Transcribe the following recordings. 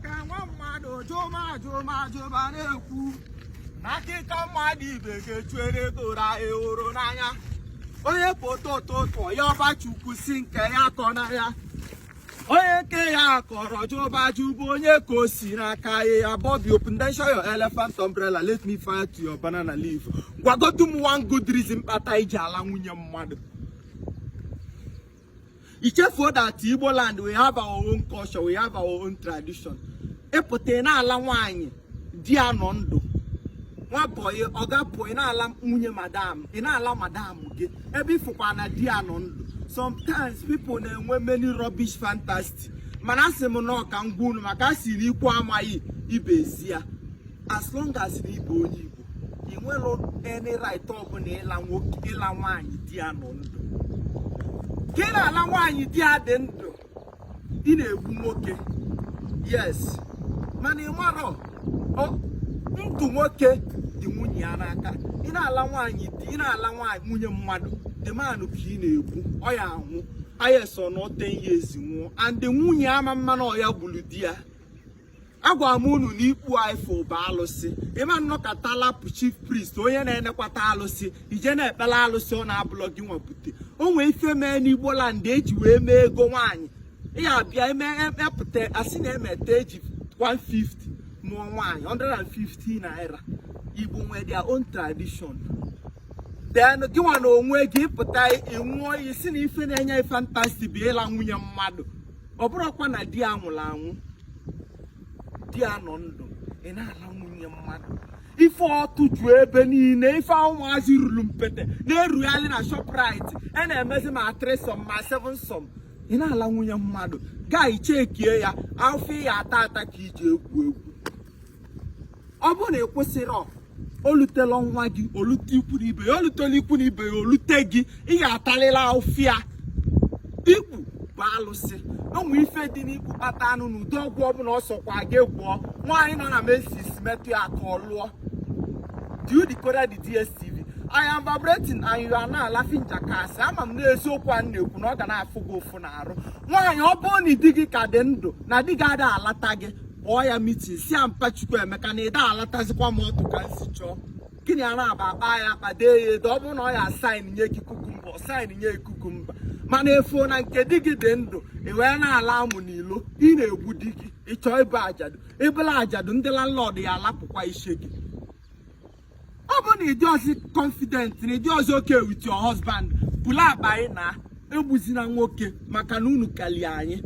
ka nwa mmadụ jụma jụma jụma na-ekwu na akịka mmadụ ibe ga-echuere okoro anyị hụrụ n'anya onye pụta ụtụtụ yọba Chukwu si nke ya akọna ya onye nke ya kọrọ jụba ajụ bụ onye ka o si n'aka ya ya Bobby open then show your elephant umbrella let me fire to your banana leaf gwagotu m one good reason kpata i ji ala nwunye mmadụ i chefuo that Igbo land we have our own culture we have our own tradition ị pụta na-ala nwaanyị di ya nọ ndụ nwa bọyị ọga bọyị na-ala nwunye madam ị na-ala madam gị ebe ị fụkwa na di ya nọ ndụ sometimes people na-enwe many rubbish fantasy mana asị m na ọ ka m gwa unu maka a siri ikwu amaghị ibe ezi ya as long as na ị bụ onye Igbo i nwerọ any right ọbụla ịla nwoke ịla nwaanyị di ya nọ ndụ ka ị na-ala nwaanyị di ya dị ndụ ị na-egbu nwoke yes mana ị marọ na ndụ nwoke dị nwunye ya n'aka ị na-ala nwaanyị di ị na-ala nwaanyị nwunye mmadụ the man ka ị na-egbu ọ ya anwụ a yes ọ nọọ ten years nwụọ and nwunye ama ma na ọ ya gburu di ya agwara m unu na ikpu a ị fụ bụ alụsị ị ma nọkata lapụ chief priest onye na-enekwata alụsị i je na-ekpelu alụsị ọ na-abụlọ gị nwa bute o nwee ife mee n'igbo land e ji wee mee ego nwaanyị ya bịa emepụta e, e asị na emeta e ji 150 nụọ nwaanyị 150 naira igbo nwee their own tradition then gị nwa na onwe gị pụta ị ṅụọ e, iyi si na ife na-enye ị fantasy bụ ịla nwunye mmadụ ọ bụrọkwa na di ya nwụrụ anwụ di ya nọ ndụ ị na-ala nwunye mmadụ ife ọtụ ju ebe niile ife ụmụazị ruru mpete na-erugharị na Shoprite a e na-emezi ma threesome ma sevensome ị na-ala nwunye mmadụ gaa ichekie ya ọ ife ya-ata ata ka i ji egwu egwu ọ bụrụ na ị kwụsịrọ o lutela nwa gị o lute ikwu na ibe ya o lutela ikwu na ibe ya o lute gị ị ga-atalịla ụfịa ikpu bụ alụsị o nwe ife dị n'ikpu kpatanụ na ụdị ọgwụ ọbụla ọ sọkwa gị gwọọ nwaanyị nọ na menses metụ ya aka o luo do you decode the DSTV I am vibrating and you are now laughing jackass ama m na eziokwu a na-ekwu na ọ ga na-afụ gị ụfụ n'arụ nwaanyị ọ bụrụ na di gị ka dị ndụ na di gị ada alata gị kpọọ ya mitin si ya mpa Chukwuemeka na ị da alatazikwa m ọtụ ka m si chọọ gị na ya naabọ akpaa ya akpa dee ya ede ọ bụrụ na ọ ya sign nye gị cucumber ọ sign nye cucumber mana ị fụ na nke di gị dị ndụ ị wee na-ala amụ n'ilo ị na-egbu di gị ị chọọ ịbụ ajadu ị bụlụ ajadu ndị landlord ya-alapụkwa isi gị ọ bụ na ị dịrọzị confident na ị dịrọzị okay with your husband bulu akpa gị naa egbuzina nwoke maka na unu kalie anyị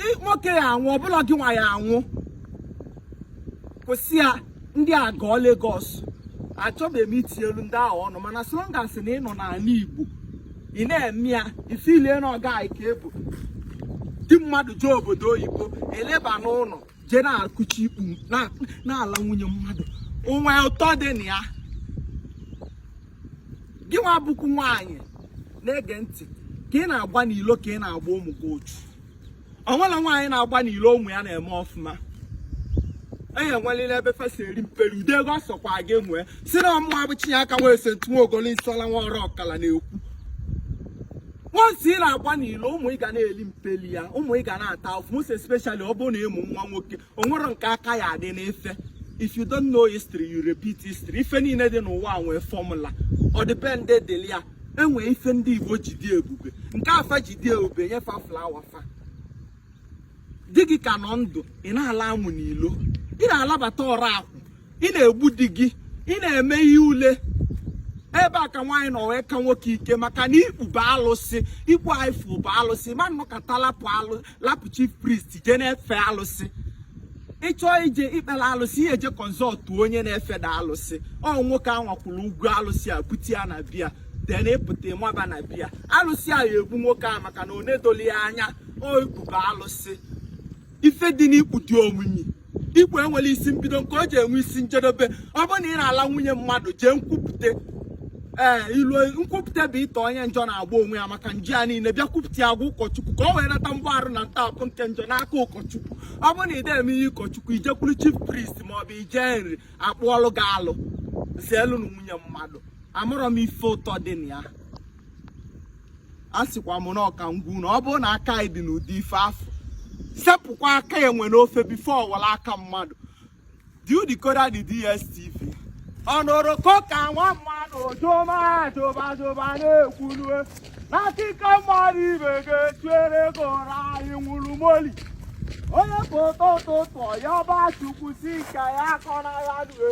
Ị- nwoke ya anwụ ọ bụrọ gị nwa ya anwụ kwụsị ya ndị a gọọ Lagos achọbeghị m itinyelu ndị ahụ ọnụ mana so long as na ị nọ n'ala Igbo ị na-eme ya ị feelie na ọga anyị ka ebu di mmadụ jee obodo oyibo eleba n'ụlọ jee na-akụchi ikpu na-ala nwunye mmadụ o nwe ụtọ dị na ya gị nwa bụkwu nwaanyị na-ege ntị ka ị na-agba n'ilo ka ị na-agba ụmụ gị otu o nwere nwaanyị na-agba n'ilo ụmụ ya na-eme ọfụma enye nwelili ebe fa si eri mperi ude ego ọ sọkwa gị nwee sị na ọ mụwa bụ Chinyeaka nwee ese ntu nwa ogolo isi ọla nwa ọrụ ọkala na-ekwu once ị na-agba n'ilo ụmụ ị ga na-eli mpeli ya ụmụ ị ga na-ata afụfụ most especially ọ bụrụ na ị mụ nwa nwoke o nwere nke aka ya adị n'ife if you don't know history you repeat history ife niile dị n'ụwa a nwee formula ọdịbendị dịlị ya e nwee ife ndị Igbo ji dị ebube nke a fa ji dị ebube nye fa flower fa di gị ka nọ ndụ ị na-ala amụ n'ilo ị na-alabata ọrụ akwụ ị na-egbu di gị ị na-eme ihe ule ebe a ka nwaanyị nọ wee ka nwoke ike maka na ikpu bụ alụsị ikpu a ị fụ bụ alụsị mmadụ nọkata lapụ alụ lapụ chief priest jee na-efe alụsị ị chọọ ije ikpere alụsị ị ye-eje kọnsọltụ onye na-efeda alụsị ọ nwoke a nwakwuru ugwu alụsị a bute ya na be ya then ị pụta maba na be ya alụsị a ya egbu nwoke a maka na o nedoli ya anya o ikpu bụ alụsị ife dị n'ikpu dị omimi ikpu enwerọ isi mbido nke o ji enwe isi njedebe ọ bụrụ na ị na-ala nwunye mmadụ jee nkwupụta ee ilu nkwupụta bụ ịta onye njọ na-agba onwe ya maka njọ ya niile bịa kwupụta ya gwa ụkọchukwu ka o wee nata mgbaghara na ntọpụ nke njọ n'aka ụkọchukwu ọ bụrụ na ị na-eme ihe ụkọchukwu i jekwuru chief priest ma ọ bụ i je Nri a kpụọlụ gị alụ zeelụnụ nwunye mmadụ amarọ m ife ụtọ dị na ya asịkwa m na ọ ka m gwa unu ọ bụrụ na aka gị dị n'ụdị ife afụ sepụkwa aka enwe n'ofe before ọ wọrọ aka mmadụ diu decoder dị DSTV ọnụrụ koka nwa mmadụ jụma jụba jụba na-ekwulue na akịka mmadụ ibe ga-etuere ego ra anyị nwụrụ moli onye foto ụtụtụ ya ọba chukwu si ka ya akọrọ ya due